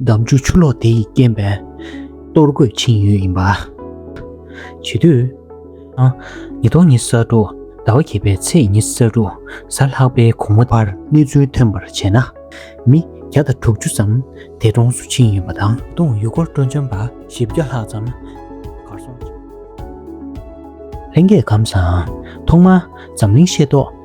འདམ་ཆུ་ཆུ་ལོག་དེ་ཡིས་རྐྱེན་པས། གཏོར་རྒོད་འཆིང་ཡུལ་ཡིན་པ། བྱེད་དུས། ཉིས་སྟོང་ཉི་ས་དྲུག་ཟླ་བ་བརྒྱད་པའི་ཚེས་ཉི་ས་དྲུག་གཟའ་ལྷག་པའི་གོང་མོ་བར་གནས་ཚུལ་ཐོན་པར་བྱས་ན། མི་བརྒྱ་དང་དྲུག་ཅུ་ཙམ་འདས་གྲོངས་སུ་ཕྱིན་ཡོད་པ་དང། ད་དུང་ཡུལ་སྐོར་སྤྲོ་འཆམ་པ་བཞི་བརྒྱ་ལྷག་ཙམ་གར་སོང་ཡོད། ལྷན་རྒྱས་གམ་བཟང། ཐོག་མར་འཛམ་གླིང་ཤེས་རྟོགས་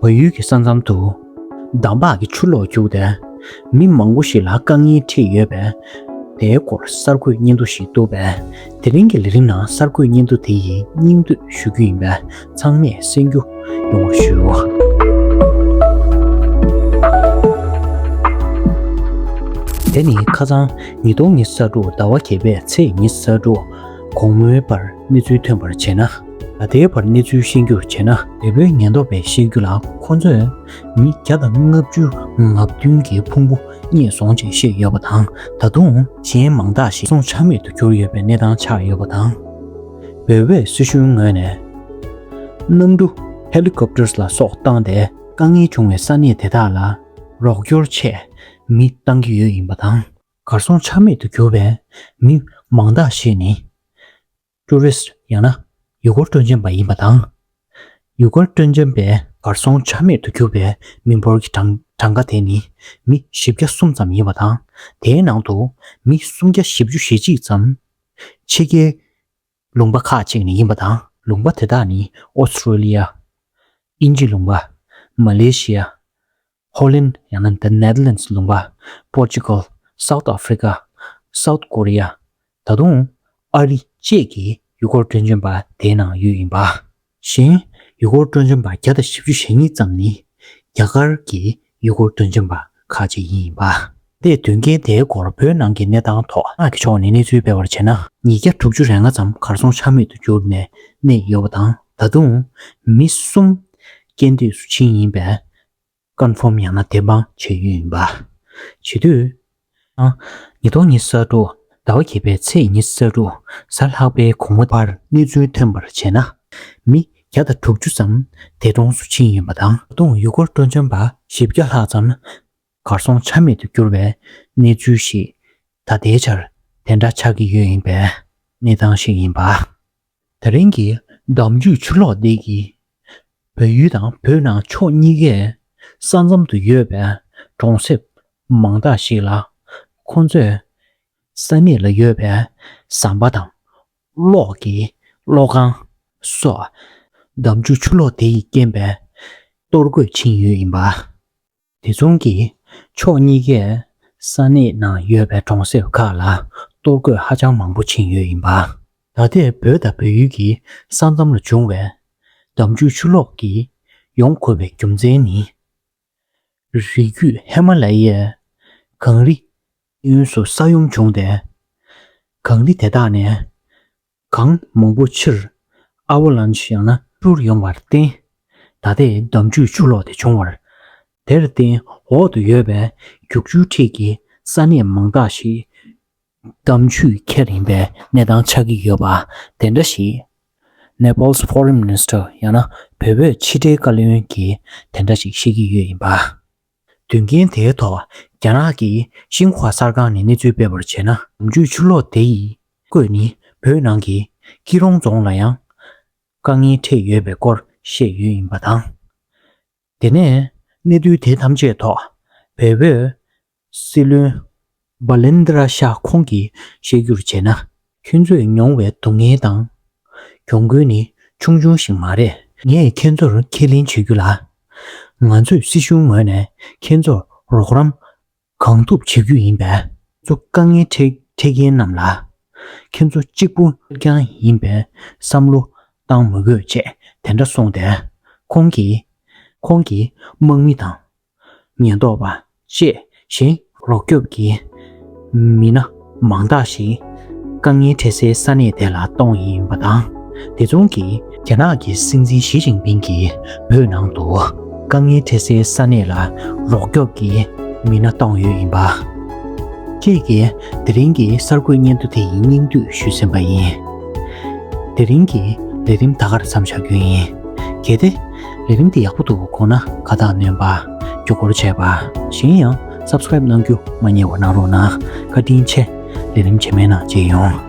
བོད་ཡུལ་གྱི་ས་མཚམས་དུ། འདམ་བག་གི་ཆུ་ལོག་བརྒྱུགས་ཏེ། མི་མང་པོ་ཞིག་ལ་རྐང་གཉིས་མཁྲིས་ཡོད་པས། དེའི་སྐོར་གསར་འགོད་སྙན་ཐོ་ཞིག་བཏུབ་པས། དེ་རིང་གི་ལས་རིམ་ནང་གསར་འགོད་སྙན་ཐོ་དེ་ཡི་སྙིང་བསྡུས་ཞུ་རྒྱུ་ཡིན་པས་ཚང་མས་གསན་རྒྱུ་ཡོང་བར་ཞུ། དེ་ནི་ཁ་སང་ཉིས་སྟོང་ཉི་ས་དྲུག་ཟླ་བ་བརྒྱད་པའི་ཚེས་ཉི་ས་དྲུག་གོང་སྨོས་པར་གནས་ཚུལ་ཐོན་པར་བྱས་ན། ད་ལྟའི་བར་གནས་ཚུལ་ཤེས་རྒྱུར་བྱས་ན། བལ་པོའི་ཉེན་རྟོག་པས་བཤད་རྒྱུ་ལ་ཁོ་ཚོས་མི་བརྒྱ་དང་ལྔ་བཅུ་ལྔ་བདུན་གྱི་ཕུང་པོ་རྙེད་སོང་ཅེས་བཤད་ཡོད་པ་དང་ད་དུང་གཞན་མང་དག་ཞིག་སོང་ཆ་མེད་དུ་གྱུར་ཡོད་པའི་གནས་སྟངས་ཆགས་ཡོད་པ་དང། བལ་བོའི་སྲིད་གཞུང་ངོས་ནས། གནམ་གྲུ། Helicopters། ལ་སོགས་བཏང་སྟེ་དཀའ་ངལ་བྱུང་བའི་ས་གནས་དེ་དག་ལ་རོགས་སྐྱོར་ཆེད་མི་བཏང་གི་ཡོད་ཡིན་པ་དང། གར་སོང་ཆ་མེད་དུ་གྱུར་པའི་མི་མང་དག་ཞིག་ནི། Tourist། ཡང་ན། ཡུལ་སྐོར་སྤྲོ་འཆམ་པ་ཡིན་པ་དང། ཡུལ་སྐོར་སྤྲོ་འཆམ་པའི་གར་སོང་ཆ་མེད་དུ་གྱུར་པའི་མི་འབོར་གྱི་གྲངས་ཀ་དེ་ནི་མི་བཞི་བརྒྱ་གསུམ་ཙམ་ཡིན་པ་དང་དེའི་ནང་དུ་མི་སུམ་བརྒྱ་བཞི་བཅུ་ཞེ་གཅིག་ཙམ་ཕྱི་རྒྱལ་ལུང་པ་ཁག་ཅིག་ནས་ཡིན་པ་དང། ལུང་པ་དེ་དག་ནི་ཨོ་སི་ཁྲུ་ལི་ཡ། དབྱིན་ཇི་ལུང་པ། མ་ལེ་ཞི་ཡ། ཧོ་ལན་ཡང་ན The Netherlands ལུང་པ། Portugal། South Africa། South Korea། ད་དུང། ཨ་རི། བཅས་ཀྱི་ཡུལ་སྐོར་བཀྲོལ་འབྱོན་པ་དེའི་ནང་ཡོད་ཡིན་པ་བཞིན། ཡུལ་སྐོར་བཀྲོལ་འབྱོན་པ་བརྒྱ་དང་བཞི་བཅུ་ཞེ་གཉིས་ཙམ་ནི། རྒྱ་གར་གྱི་ཡུལ་སྐོར་བཀྲོལ་འབྱོན་པ་ཁག་ཅིག་ཡིན་ཡིན་པ། ལས་དོན་རྐྱེན་དེའི་སྐོར་བོད་ནང་གི་གནས་སྟངས་ཐོག་ཁག་གི་ཕྱོགས་ནས་གནས་ཚུལ་སྤེལ་བར་བྱས་ན། ཉིས་བརྒྱ་དྲུག་ཅུ་རེ་ལྔ་ཙམ་གར་སོང་ཆ་མེད་དུ་གྱུར་ནས་གནས་ཡོད་པ་དང་ད་དུང། མི་གསུམ། རྐྱེན་འདས་སུ་ཕྱིན་ཡིན་པས། སྐར་འཕོམ་ཡང་ན་བདེ་འབངས་བྱེད་ཡུལ་ཡིན་པ། བྱེད་དུས། ཉི་སྟོང་ཉི་ས་དྲུག་ཟླ་བ་གྱེས་པའི་ཚེས་ཉི་ས་དྲུག་གཟའ་ལྷག་པའི་གོང་མོ་བར་གནས་ཚུལ་ཐོན་པར་བྱས་ན། མི་བརྒྱ་དང་དྲུག་ཅུ་ཙམ་འདས་གྲོངས་སུ་ཕྱིན་ཡོད་པ་དང། ད་དུང་ཡུལ་སྐོར་སྤྲོ་འཆམ་པ་བཞི་བརྒྱ་ལྷག་ཙམ་གར་སོང་ཆ་མེད་དུ་གྱུར་བའི་གནས་ཚུལ་ཞིག་ད་ལྟའི་ཆར་དེ་འདྲ་ཆགས་ཀྱི་ཡོད་ཡིན་པའི་གནས་སྟངས་ཤིག་ཡིན་པ། ད་རིང་གི་གདམས་རྒྱུད་ཆུ་ལོག་འདི་ཡིས། བོད་ཡུལ་དང་བོད་ནང་ཕྱོགས་གཉིས་ཀའི་ས་མཚམས་དུ་ཡོད་པའི་གྲོང་གསེབ་མང་དག་ཞིག་ལ་ཁོང་ཚོས་ས་གནས་ལ་ཡོད་པའི་ཟམ་པ་དང་གློག་གི་གློག་ཁང་སོགས་གདམས་རྒྱུད་ཆུ་ལོག་དེ་ཡིས་རྐྱེན་པས་གཏོར་རྒོད་ཕྱིན་ཡོད་ཡིན་པ། དེ་མཚུངས་ཀྱིས་ཕྱོགས་གཉིས་ཀས་ས་གནས་ནང་ཡོད་པའི་གྲོང་གསེབ་ཁག་ལ་གཏོར་རྒོད་ཧ་ཅང་མང་པོ་ཕྱིན་ཡོད་ཡིན་པ། ད་ལྟའི་བོད་དང་བོད་ཡུལ་གྱི་ས་མཚམས་ལ་བྱུང་བའི་འདམ་རྒྱུད་ཆུ་ལོག་གིས་ཡོངས་བསྐོར་བའི་རྒྱུ་མཚན་ནི། རི་རྒྱུད་ཧི་མ་ལ་ཡའི་གངས་རི་གཡོན་སུ་ས་ཡོམ་བྱུང་སྟེ། གངས་རི་དེ་དག་ནས་གང་མང་པོ་ཕྱིར་ཨ་བྷ་ལཱན་ཆ་ཡང་ན་འཕུར་ཡོང་བར་བརྟེན། ད་ལྟའི་འདམ་རྒྱུད་ཆུ་ལོག་དེ་བྱུང་བར། དེར་བརྟེན་འོག་ཏུ་ཡོད་པའི་རྒྱུག་ཆུའི་འཁྲིས་ཀྱི་ས་གནས་མང་དག་ཞིག་འདམ་རྒྱུད་ཁྱེར་ཡིན་པའི་གནས་སྟངས་ཆགས་ཀྱི་ཡོད་པ་དེ་འདྲ་ཞིག Nepal's Foreign Minister ཡང་ན་བོད་པའི་ཕྱི་དྲིལ་བཀའ་བློན་གྱིས་དེ་འདྲ་ཞིག་བཤད་ཀྱི་ཡོད་ཡིན་པ། དོན་རྐྱེན་དེའི་ཐོག་རྒྱ་ནག་གིས་ཤིན་ཧྭ་གསར་ཁང་ནས་གནས་ཚུལ་སྤེལ་བར་བྱས་ན། ནམ་རྒྱུན་ཆུ་ལོག་དེ་ཡི་སྐོས་ནི་བོད་ནང་གི་སྐྱིད་རོང་རྫོང་ལ་ཡང་དཀའ་ངལ་འཕྲད་ཡོད་པའི་སྐོར་བཤད་ཡོད་ཡིན་པ་དང། དེ་ནས་གནས་ཚུལ་དེ་ཐམས་ཅད་ཐོག་བལ་བོའི་སྲིད་བློན་སྦ་ལན་ཏི་ར་ཤ་ཁོང་གིས་བཤད་རྒྱུར་བྱས་ན། ཁྱོད་ཚོས་མྱོང་བའི་སྡུག་བསྔལ་དང། གྱོང་གུན་ནི་ཆུང་ཆུང་ཞིག་མ་རེད། ངས་ཁྱེད་ཚོར་ཁས་ལེན་བྱེད་རྒྱུ་ལ། ང་ཚོས་སྲིད་གཞུང་ངོས་ནས་ཁྱེད་ཚོར་རོགས་རམ་གང་ཐུབ་བྱེད་རྒྱུ་ཡིན་པས། ཚོ་དཀའ་ངལ་འཕྲད་མཁན་རྣམས་ལ། ཁྱེད་ཚོ་གཅིག་པུ་རྐྱང་ཡིན་པའི་བསམ་བློ་བཏང་མི་དགོས་ཅེས་དེ་འདྲ་གསུངས་ཏེ། ཁོང་གིས། ཁོང་གིས་དམག་མི་དང་ཉེན་རྟོག་པ་བཅས་བཞིན། རོགས་སྐྱོབ་ཀྱི་མི་སྣ་མང་དག་ཞིག་དཀའ་ངལ་འཕྲད་སའི་ས་གནས་དེ་ལ་གཏོང་ཡིན་པ་དང། དེ་མཚུངས་ཀྱི། རྒྱ་ནག་གི་སྲིད་འཛིན་ཞི་ཅིང་ཕིང་གིས་བོད་ནང་དུ་དཀའ་ངལ་འཕྲད་སའི་ས་གནས་ལ་རོགས་སྐྱོབ་ཀྱི་མི་སྣ་གཏོང་ཡོད་ཡིན་པ། ཁྱེད་ཀྱིས་དེ་རིང་གི་གསར་འགོད་སྙན་ཐོ་དེ་ཡི་སྙིང་བསྡུས་ཞུས་ཟིན་པ་ཡིན། དེ་རིང་གི་ལས་རིམ་ད་གར་མཚམས་བཞག་རྒྱུ་ཡིན། གལ་ཏེ། ལས་རིམ་འདི་ཡག་པོ་འདུག་གོ་ན་ཁ་བཏགས་སྣོན་པ་རྒྱུ་སྐོར་བྱས་པ་གཞན་ཡང Subscribe གནང་རྒྱུ་མ་རྙེད་བ་གནང་རོགས་གནང་བཀའ་དྲིན་ཆེ་ལས་རིམ་རྗེས་མའི་ནང་མཇལ་ཡོང།